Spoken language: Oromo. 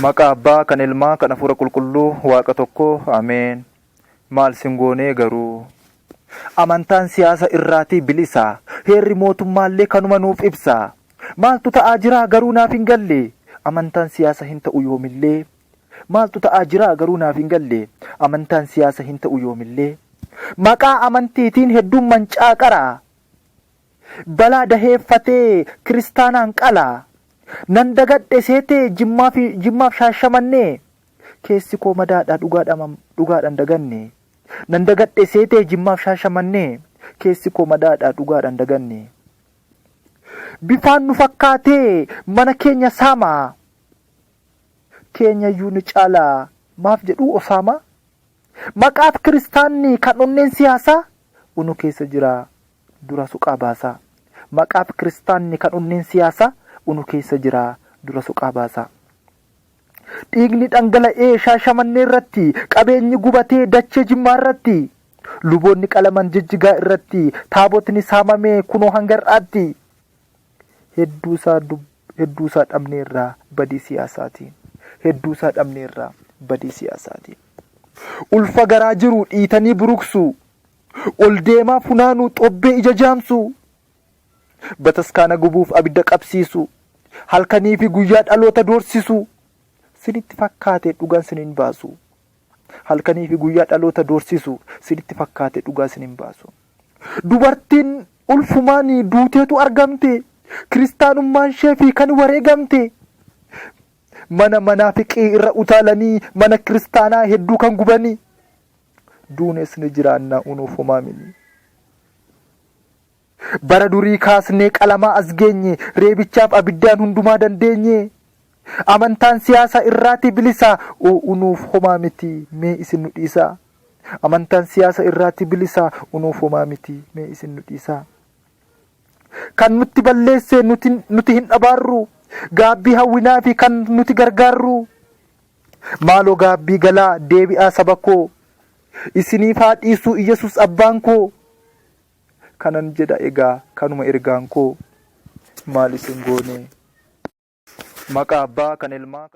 Maqaa Abbaa, kan Ilmaa, kan Afuura Qulqulluu, Waaqa tokkoo, Ameen. Maal sin goonee garuu? Amantaan siyaasa irraatii bilisa. Heerri mootummaallee kanuma nuuf ibsa. Maaltu ta'aa jiraa garuu naaf hin galle? Amantaan siyaasa hin ta'u yoomillee. Maaltu ta'aa jiraa garuu naaf hin galle? Amantaan siyaasa hin ta'u yoomillee. Maqaa amantiitiin hedduun mancaaqara. Balaa daheen fatee kiristaanaan qala. Nan dagadhe seetee jimmaafi jimmaaf shaashamannee keessi koo madaadha dhugaadhama dhugaadha hin daganne Nan dagadhe seetee jimmaaf shaashamannee keessi koo madaadha dhugaadha hin daganne Bifaan nu fakkaatee mana keenya saama keenyayyuu ni caala maaf jedhuu osaama Maqaaf kiristaanni kan onneen siyaasaa unu keessa jira dura soqaa baasaa. Maqaaf kiristaanni kan onneen siyaasaa unu keessa jira dura soqaa baasaa. Dhiigni dhangala'ee Shaashamannee irratti, qabeenyi gubatee dachee Jimmaa irratti, luboonni qalaman Jijjigaa irratti, taabotni saamamee kunoo hanga har'aatti. Hedduusaa hedduusaa dhabneerraa badii siyaasaatiin. Hedduusaa dhabneerraa badii siyaasaatiin. Ulfa garaa jiru dhiitanii buruqsuu, Ol deemaa funaanuu xobbee ija jaamsuu Bataskaana gubuuf abidda qabsiisuu Halkanii fi guyyaa dhaloota doorsisuu Sinitti fakkaate dhugaan sin hin baasu Halkanii fi guyyaa dhaloota doorsisuu Sinitti fakkaate dhugaa sin hin baasu Dubartiin ulfumaanii duuteetu argamte Kiristaanummaan ishee fi kan wareegamte Mana manaafiqii irra utaalanii Mana kiristaanaa hedduu kan gubanii duunes ni jiraanna unuuf homaa miti. Bara durii kaasnee qalamaa as geenye, reebichaaf abiddaan hundumaa dandeenye. Amantaan siyaasa irraatii bilisa o unuuf homaa miti mee isin nu dhiisa. Amantaan siyaasa irraatii bilisa unuuf homaa miti mee isin nu dhiisa. Kan nutti balleesse nuti, nuti hin abaarru, gaabbii hawwinaa fi kan nuti gargaarru. Maaloo gaabbii galaa deebi'aa saba koo Isiniif haa dhiisuu Iyyasuus abbaan koo Kanan jedha egaa kanuma ergaan koo Maal isin goonee maqaa abbaa kan ilmaa.